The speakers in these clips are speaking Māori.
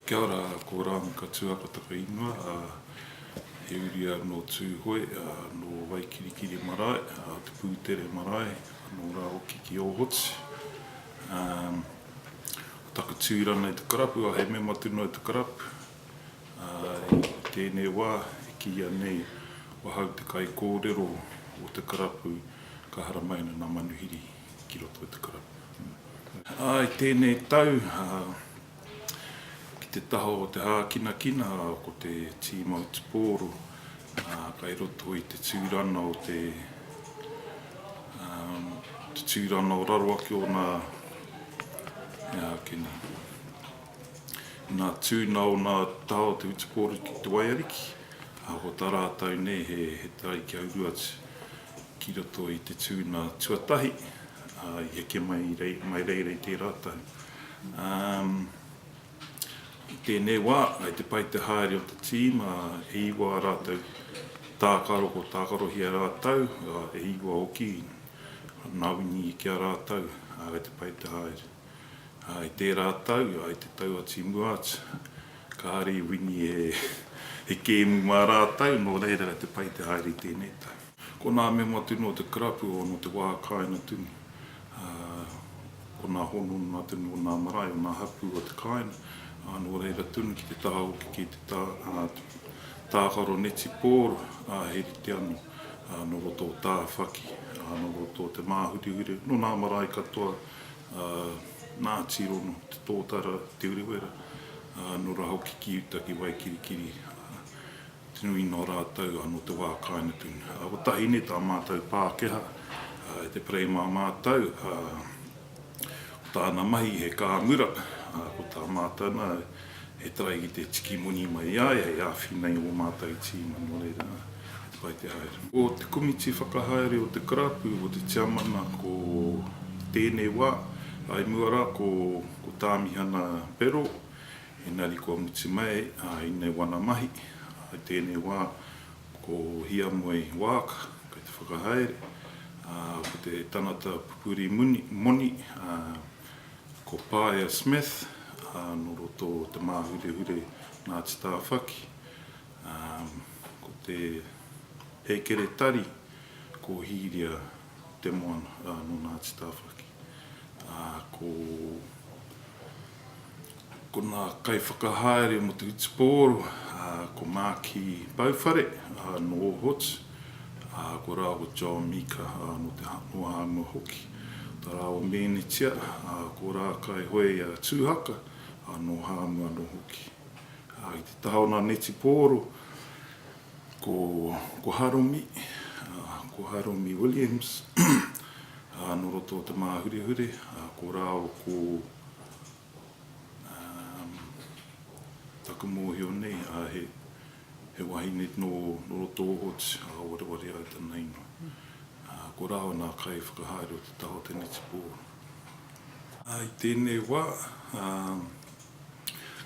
Kia ora, ko Ram Katua ko taku ingoa, he uri au nō Tūhoe, nō Waikirikiri marae, Te Pūtere marae, anō rā hoki ki Ōhotu. Ko taku tūranga i te karapu, he mema tonu o te karapu. I tēnei wā, e kīia nei, wahau te kaikōrero o te karapu, ka haramai ana ngā manuhiri ki roto i te karapu. I tēnei tau, Ki te taha o te hākinakina ko te tīma o Te Pōro kai roto i te tūrana o te te tūrana o raro ake o nā he āke nei. Inā tū nā o nā taha o te Hutu Pōro ki Te Waiariki, ko tā rātau nei he he tae kia uru atu ki roto i te tūna tuatahi i heke mai i mai reira i tērā taha. Um I tēnei wā, kei te pai te haere o te tīma e iwa a rātou tākaro kua tākarohia e rātou, ā, e iwa hoki nā Wini ki a rātou, ā, kei te pai te haere. Ā, i tērā tau, ā, i te tau o Timu Arts, kāre i Wini he kēmu mā rātou, nō reira kei te pai te haere i tēnei tau. Ko nā mea matu nō te karapu o nō te wā kāinga tunu, ko nā hononga tunu o nā marae, o nā hapū o te kāinga, ā, nō reira tunu ki te taha hoki ki te tākaro netipōro, ā, he rite anō, ā, nō roto o Tāwhaki, ā, nō roto o Te Māhurihure, nō nā marae katoa, ā, nā Tīrono, Te Tōtara, Te Urewera, ā, nō rā hoki ki uta ki Waikirikiri, ā. Tino ingoa rātou nō te wā kāinapin. Ā, ko Tahine tā mātou Pākehā, ā, e te Perei mā mātou, ā, ko tāna mahi he kāmura, ā, ko tā mātou nā, he tarai ki te tiki moni mai i a ia hei āwhina i ō mātou tīma, nō reira, he pai te haere. Ko te komiti whakahaere o te karapu, ko te tiamana ko tēnei wā, ā, i mua rā ko Tāmihana Berrell, Engari kua mutu mai i nei wana mahi, i tēnei wā, ko Hiamoe Waaka kei te whakahaere, ko te tangata pupuri moni, ko Paea Smith nō roto o Te Māhurehure Ngāti Tāwhaki, ko te Hekeretari, ko Hīria te moana nō Ngāti Tāwhaki. Ko konā kaiwhakahaere mō te hutupōro, ko Mākī Pauwhare nō Ōhotu, ko rāua John Mika nō Te Hanoahanoa hoki, tā rāua mēnitia ko Rākai Hoea Tūhaka nō Hāmu anō hoki. I te taha o ngā netipōro, Ko, ko Haromi, ko Haromi Williams, nō roto o Te Māhurehure, ko rāo ko, um, taku mōhio nei, ā, he, he wahine nō, nō roto o Ōti, ā, wareware ai tana ingoa. Ā, ko rāo nā kaiwhakahaere o te taha o Te Nitipō. Ā, i tēnei wā, um,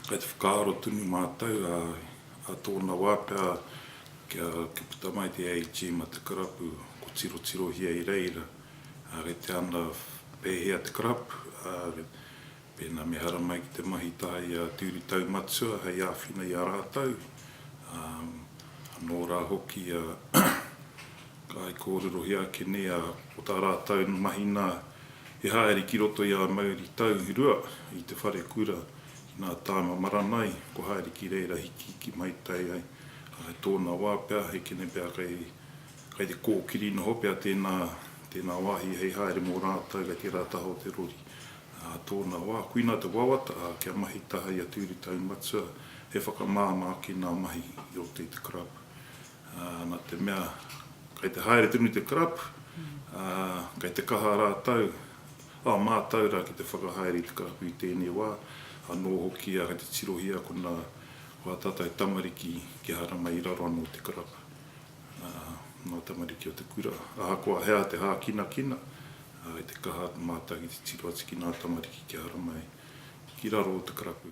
kai te whakaaro tonu mātou, ā, Ka tōna wā pea kia puta mai te A-Team a te karapu, ko tirotirohia i reira, ā, kei te ana pēhea te karapu, ā, pēnā me haramai ki te mahi tahi i a Te Uri Taumatua hei āwhina i a rātou, ā, anō rā hoki ia ka ai kōrerohia ake nei, ā, ko tā rātou mahi nā, he haere ki roto i a Mauri Taurua i te wharekura Nā Tāma Maranai, ko haere ki reira hiki ki Maitai ai, ā, i tōna wā pea, he kenepea kei, kei te kōkiri noho pea tēnā, tēnā wāhi hei haere mō rātou kei tērā taha o te rori. Ā tōna wā, kuina te wawata, ā, kia mahi taha i a Tūri Taumatua, he whakamāmā ki nā mahi i roto i te karapu. Ā, nā te mea, kei te haere tonu te karapu, ā, kei te kaha rātou, Ā mātau rā ki te whakahaere i te karapu i tēnei wā, anō hoki ahau te tirohia ko nā, ko ā tātau tamariki kia harama i raro anō te karapu, ā, ngā tamariki o te kura. Ahakoa he aha te hākinakina, ā, i te kaha mātau ki te tiro atu ki nā tamariki kia harama i raro o te karapu.